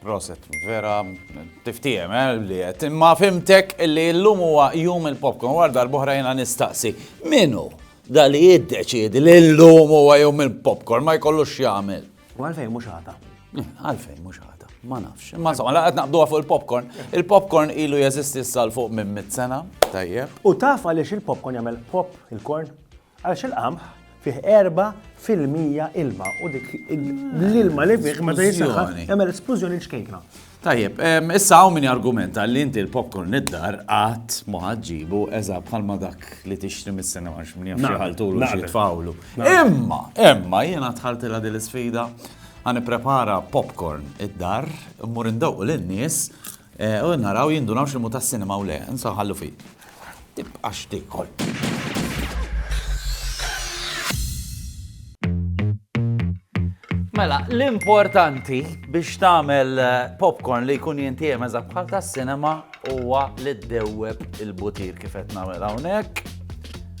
Proset, vera, tiftijem, eh, li għet. Ma fimtek li l-lum huwa jum il-popcorn, għar darbohra jena nistaqsi. Minu, da li jiddeċidi li l-lum huwa jum il-popcorn, ma jkollux xjamil. U għalfejn mux għata? Eh, għalfejn mux għata, ma nafx. Ma insomma, laqat naqduha fuq il-popcorn. Il-popcorn ilu jeżisti s-sal fuq minn mit sena, tajjeb. U taf għaliex il-popcorn jagħmel pop il-korn? Għaliex il-qamħ fih 4 fil-mija ilma u dik l-ilma li fih meta jisaħħa jagħmel esplużjoni ċkejkna. Tajjeb, issa hawn min argumenta li inti l-popcorn id-dar qatt ma ħaġġibu eża bħalma dak li tixtri mis-sena għax min jaf ħaltulu xi tfawlu. Imma, imma jiena tħaltilha din l-isfida għan prepara popcorn id-dar, mmur indawqu lin-nies U naraw jindunaw x'ilmu tas-sinema u le. Insa u ħallu fih. Tibqax tiekol. Mela, l-importanti biex tagħmel eh, popcorn li jkun jintiem eża bħal tas-sinema huwa li ddewweb il-butir kif qed nagħmel hawnhekk.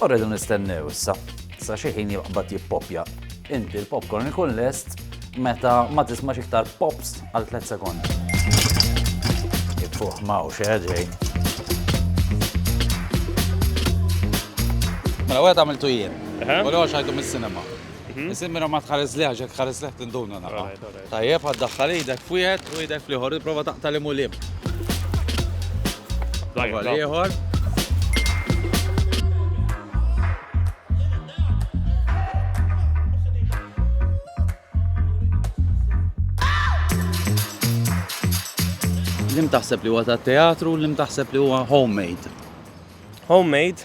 U rridu nistennew issa sa xi ħin jibqbad jippoppja. Inti l-popcorn ikun lest meta ma tismax iktar pops għal 3 sekondi. Fuq mawx, eh, ġej. Mela, għed għamiltu jien. U l-għox għajtu mis-sinema. Nisimira ma tħares liħa, ġek tħares liħ tinduna naqa. Tajjeb ħa ddaħħal idek f'wieħed u idek fl-ieħor, ipprova taqta' liem u liem. Prova l-ieħor. Lim taħseb li huwa ta' teatru, lim taħseb li huwa homemade? Homemade,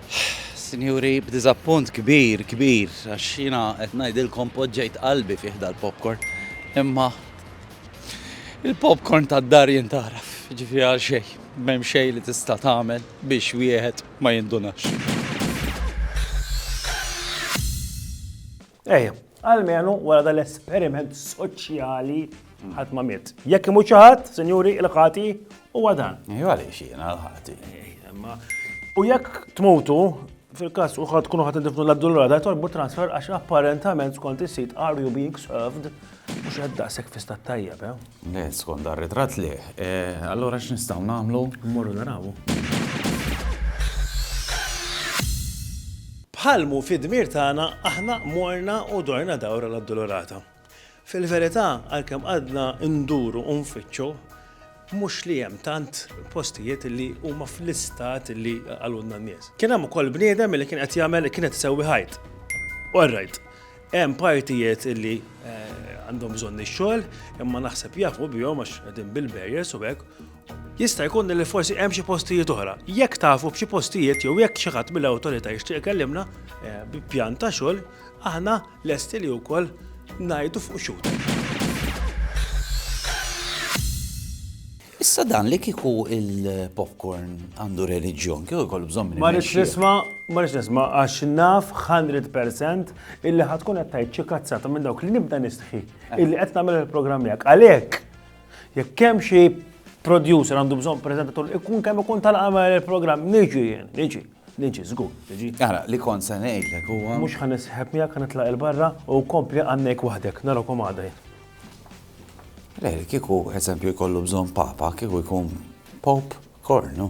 Sinjuri, b'diżappunt kbir, kbir, għax jiena qed ngħidilkom poġġejt qalbi fih dal-popcorn, imma il-popcorn tad-dar jintaraf, ġifieri għal xejn, m'hemm xejn li tista' tagħmel biex wieħed ma jindunax. Ejja, għalmenu wara dal-esperiment soċjali ħadd ma miet. Jekk imut xi ħadd, sinjuri, il-ħati huwa dan. Ejju għaliex jiena l-ħati. U jekk tmutu, fil-każ u ħadd tkunu ħadd indifnu l-addulrata, torbu transfer għax apparentament skont is-sit are you being served Mhux qed daqshekk fi stat tajjeb, eh? Le, skont dan ritratt le. Eh, allura x'nistgħu nagħmlu? Mmorru narawu. Bħal mu fid-dmir tagħna aħna morna u dorna dawra l-Addolorata. Fil-verità, għalkemm għadna nduru u nfittxu, Mhux li hemm tant postijiet li huma fl-istat li qalulna n-nies. Kien hemm ukoll bniedem li kien qed jagħmel kien qed isewwi ħajt. All right. Hemm partijiet li għandhom bżonn ix-xogħol imma naħseb jafu bihom għax qegħdin bil-barriers u hekk. Jista' jkun li forsi hemm xi postijiet oħra. Jekk tafu b'xi postijiet jew jekk xi ħadd mill-Awtorità jixtieq ikellimna bi pjan ta' xogħol, aħna Lesti li wkoll ngħidu fuq xhud. Issa dan li kieku il-popcorn għandu reliġjon, kieku jkollu bżonn minn. Ma rridx nisma, ma rridx nisma, għax naf 100% illi ħatkun qed tgħid xi kazzata minn dawk li nibda nistħi eh. illi qed nagħmel il-programm miegħek. Għalhekk, jekk hemm xi producer għandu bżonn preżentatur ikun kemm ikun tal-għamel il-programm, niġi jien, niġi. Niġi, żgur, niġi. Ara, li kont se ngħidlek huwa. Mhux ħa nisħeb miegħek ħa nitlaq 'il barra u kompli għannejk waħdek, narakom għada jien. Le, kieku eżempju jkollu bżonn Papa, kieku jkun Pope Kornu.